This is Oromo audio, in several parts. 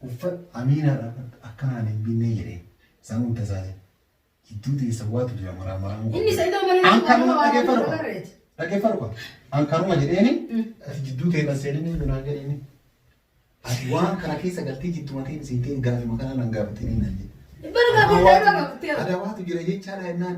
Uffadhu Amiinaa dhaabadhu akka naan hin binnee jedheen isaa immoo hin tasaasine. Jidduu teessan waatu jira maraa maraa muka. Inni Sa'idoo mana An kanuma dhaggeeffadhu qaba. barreeti. Dhaggeeffadhu qaba. An kanuma jedheeni ati jidduu teessan seenanii iyyuu naan jedheeni. Ati waan kana keessa galtee jidduu mateen seenteen gaafima kanaa nan gaafatanii naan jedhe. Bara gaafatee Adawaatu- gaafatee. Adawaatu jira jechaadha jennaan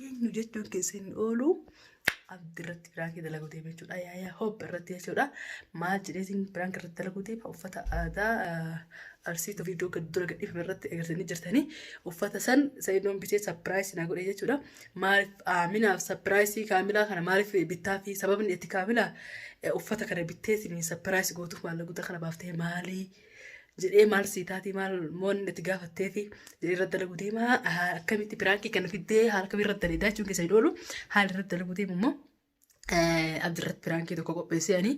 eenyu jechuun keessa hin oolu abdi irratti biraakii dalaguu deema jechuudha yaayaa hoop irratti jechuudha maal jedheetiin biraank irratti dalaguu deema uffata aadaa arsiitu viidiyoo gad dura gadhiifame irratti agartanii jirtanii uffata san sa'idoon bitee sapiraayisii naa godhe jechuudha maaliif aaminaaf sapiraayisii kaamilaa kana maaliif bittaa fi sababni itti kaamilaa uffata kana bitteetiin sapiraayisii gootuuf maallaqa guddaa kana baaftee maalii jedhee maal sii taatee maal moon itti gaafatteeti jedhee irratti dalagu deema akkamitti piraankii kana fiddee haala kamii irratti daleedaa jechuun keessa hin oolu haala irratti dalagu deemu immoo abdirratti piraankii tokko qopheessee ani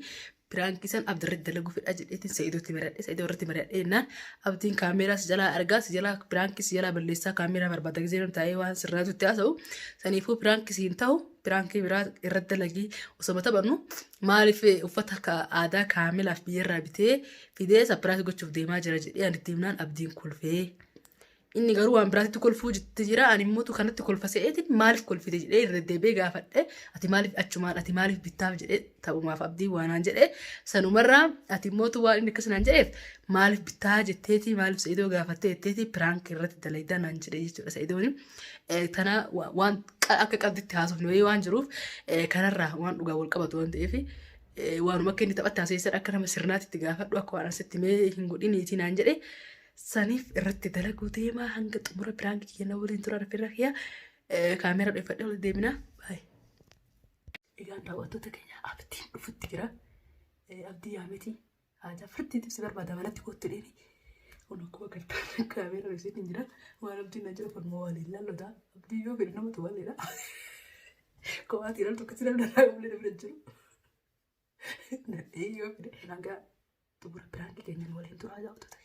piraankii san abdirratti dalagu fedha jedheetiin sa'iidootti mari'adhe sa'iidoo irratti mari'adhe jennaan abdiin kaameeraa si jalaa argaa si jalaa piraankii si jalaa balleessaa kaameeraa barbaada gisee taa'ee waan sirraatutti haasa'u saniifuu piraankii si hin ta'u Piraankii biraa irratti dalagii osoma taphannu maaliif uffata ka- aadaa kaamilaaf biyyarraa bitee fidee sapiraas gochuuf deemaa jira jedhee ani itti himnaan abdiin kolfee. Inni garuu waan biraatti kolfuu jitti jira ani immoo tu kanatti kolfa se'eetiin maaliif kolfite jedhee irra deebi'ee gaafadhe ati maaliif achumaan ati maaliif bittaaf jedhee taphumaaf abdii waanaan jedhee sanumarraa ati immoo tu waan inni akkas naan jedheef maaliif bittaa jetteetii maaliif sa'idoo gaafattee jetteetii piraank irratti dalagdaa naan jedhee jechuudha sa'idooni. Eh, Tana wa- waan qa- akka qabditti haasofne wayii waan jiruuf eh, kanarraa waan dhugaa wal qabatu waan ta'eef eh, waanuma akka inni taphatti haasa'eessan akka nama sirnaatti itti gaafadhu akka waan asitti mee hin godhiniitii naan jedhe saniif irratti dalaguu deemaa hanga xumura piraanki kiyya na waliin tura rafirra kiyya eh, kaameera dheffadhe wal deeminaa baay'ee. Egaan daawwattoota keenya abdiin dhufutti jira. Eh, Abdii yaamiti Haajaa firtiitiif si barbaada manatti kootti dheeni. Kun akkuma gartaan kaameera ibsiin hin jira. Waan abdiin na jira falmoo waliin lallota. Abdii yoo fedhe namatu waliidha. Kophaatti ilaaltu akkasii lallarraa qablee namni hin jiru. Nadhee yoo fedhe nagaa xumura biraan keenya waliin turaa jaawwatu ta'e.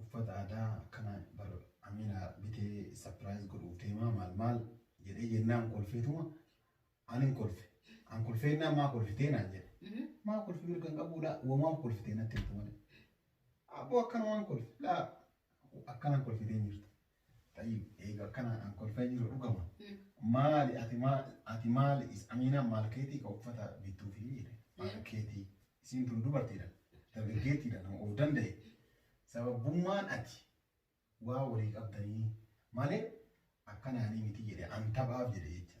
uffata aadaa akkana bar amina bitee sapiraayiz godhuuf deemaa maal maal jedhee jennaan kolfeetuma anin kolfe an kolfeennaan maa kolfitee naan jedhe maa kolfi mirga hin qabuu laa wamaaf kolfitee natti himtu malee abboo akkanumaan kolfe laa akkanaan kolfitee hin jirtu Xayyib eega akkanaan an kolfee jiru dhugama maali ati maal ati maali is amiinaan maal keetii ka uffata bittuu fi jedhe maal keetii isiin tun dubartiidha dargaggeettiidha nama of danda'e sababbummaan ati waa walii qabdanii malee akkanaanii miti jedhe an taphaaf jedhe jecha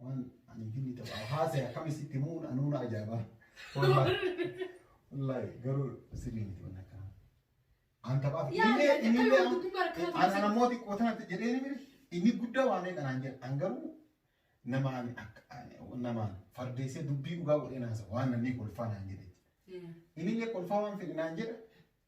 Waan ani finni taphaa haasee akkami sitti muun anuu na ajaa'ibaa. Wallaahi garuu sirrii miti waan akkanaa. An taphaa fi Yaa, inni yaa, inni yaa, amma gubbaa akkana an taasisa. ana mooti qootaatti jedhee ni biri inni guddaa waan ta'e kanaan jedhe an garuu namaan akka namaan fardeessee dubbii dhugaa godhee naasa waan namni kolfaa naan jedhe. Inni illee kolfaa waan fedhe naan jedhe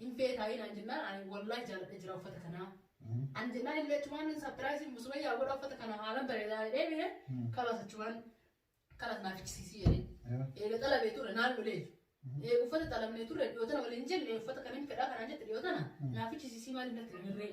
Hin feetaayii naan jennaan ani wallahi jaaladhe jira uffata kanaa. Ani jennaan illee achumaan sapiraayisii musumayyaa godha uffata kana haalan bareedaa jedhee bine kalas achumaan kalas naaf ichisiisii jedhee. Eega xalabee ture naan lolee. Eega uffata xalabnee ture dhiyoo tana waliin jenne uffata kan hin fedhaa kanaan jette dhiyoo tana naaf ichisiisii maaliif natti hin hirree.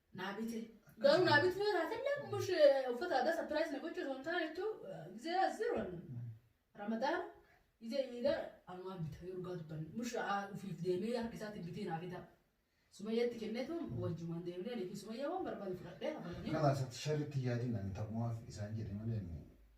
naa bite garuu naa bitee jiraatellee mush uffata aadaa sapiraayis na gochuu osoo hin taane jechuun gizee asiroon ramadaan gizee iidaa anumaan bita yoo dhugaa dubbanne mush ofiif deemee harka isaatiin bitee naa fidaa sumayyaatti kenneetu wajjumaan deemnee niifi sumayyaa waan barbaadu fudhadhee abalanii Kalaasatti sharritti yaadin ani taphumaaf isaan jedhe malee inni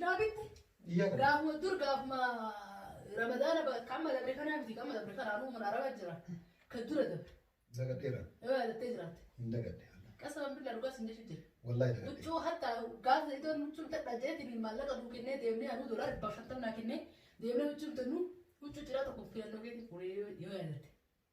Daabitti gaafuma dur gaafuma ramadaana ba- kan amma dabre kanaa miti kan amma dabre kanaa nuuma araba jira kan dura dabre Dagateera. yoo yaadattee jiraatte Hin dagadde. qasaba bilaa dhugaa sin jechu jira Wallahi dagadde. huccuu hatta gaafa idoon huccuu tadha jeetiin maallaqa nuu kennee deemnee anuu dolar dhibba shantamnaa kennee deemnee huccuu bitannu huccuu ciraa tokko filannoo keetiin fuudhee yoo yaadatte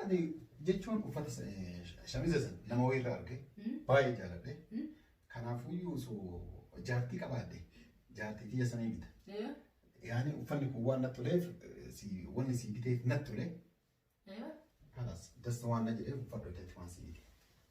Ani jechuun uffata shamiza san nama wayirra arge baay'ee jaaladhe. Kanaafuyyuu osoo jaartii qabaadhe jaartii tiyya sanii bita. Yaani uffanni kun waan natti toleef wanni sii biteef natti tole. Kanas dasta waan na jedheef uffadhu jechuun waan sii bite.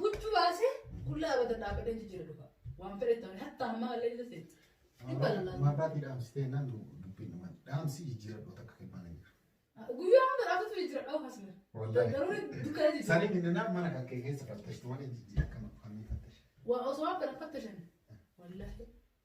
Huccu baase qullaa abatan dhaabbatee jijjiira dhufa. Waan fedhe ta'an hatta hamma allee jira ta'e. Dhibba lallaaf. Maabaatii dhaamsitee naan dubbiin dhuman dhaamsi jijjiiradhu takka kennaan hin jiru. Guyyaa hunda dhaabbatee jijjiira dhawu hasme. Wallaahi. Garuu dukkana jijjiira. Sanii minnanaa mana kan kee keessa fattashtu malee jijjiira kan fannii fattash. Waa osoo waan kana fattashan. Wallaahi.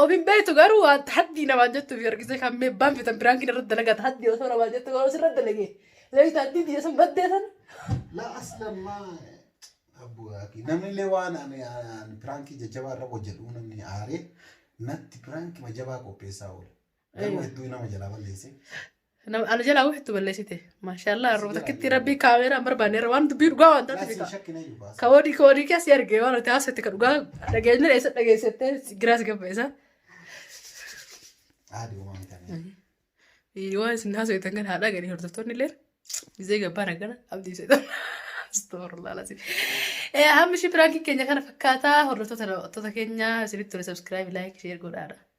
Of hin beektu garuu waan haddii namaan jettu fi argitee kan mee banfitan biraankiin irratti dalagata haddii osoo namaan jettu garuu sirra dalagee. Leeyita haddii diina sun baddee san. La aslamma abbu aki namni illee waan ani ani piraankii jajjabaa irra hojjedhu namni aaree natti piraankii majabaa qopheessaa oole. Nama hedduu nama jalaa balleesse. Nama ana jalaa wixtu balleessite. Maashaallah arroo takkitti rabbii kaameeraa hin barbaanne irra waan dubbii dhugaa waan taate Laasii shakkina iyyuu baasa. Ka wadi ka wadi kasi arge waan ati haasofte ka dhugaa dhageenye dha isa dhageessette giraas gabba isa. Haadhi uumaa mitamee. Waan isin haasoftan kan haadha gadi hordoftoonni illee izee gabbaan akkana abdii seetan. Astaghfirullah lazi. Eh hammi shi piraanki keenya kana fakkaataa hordoftoota daawwattoota keenya isinitti tole subscribe like share godhaadha.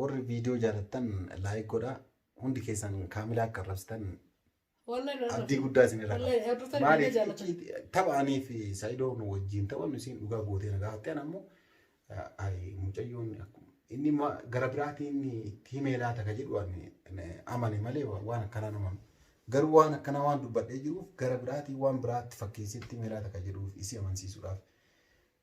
Warri viidiyoo jaalattan laayik godhaa. Hundi keessan kaamilaa akka arrabsitan abdii guddaa isin irraa qaba. Maaliif tapha anii fi Saayidoo nu wajjin taphannu isiin dhugaa gootee na gaafatte ana ammoo mucayyoon inni gara biraatiin itti himee laata ka jedhu amane malee waan akkanaa nama garuu waan akkanaa waan dubbadhee jiruuf gara biraatiin waan biraatti fakkeessetti himee laata ka jedhuuf isii amansiisuudhaaf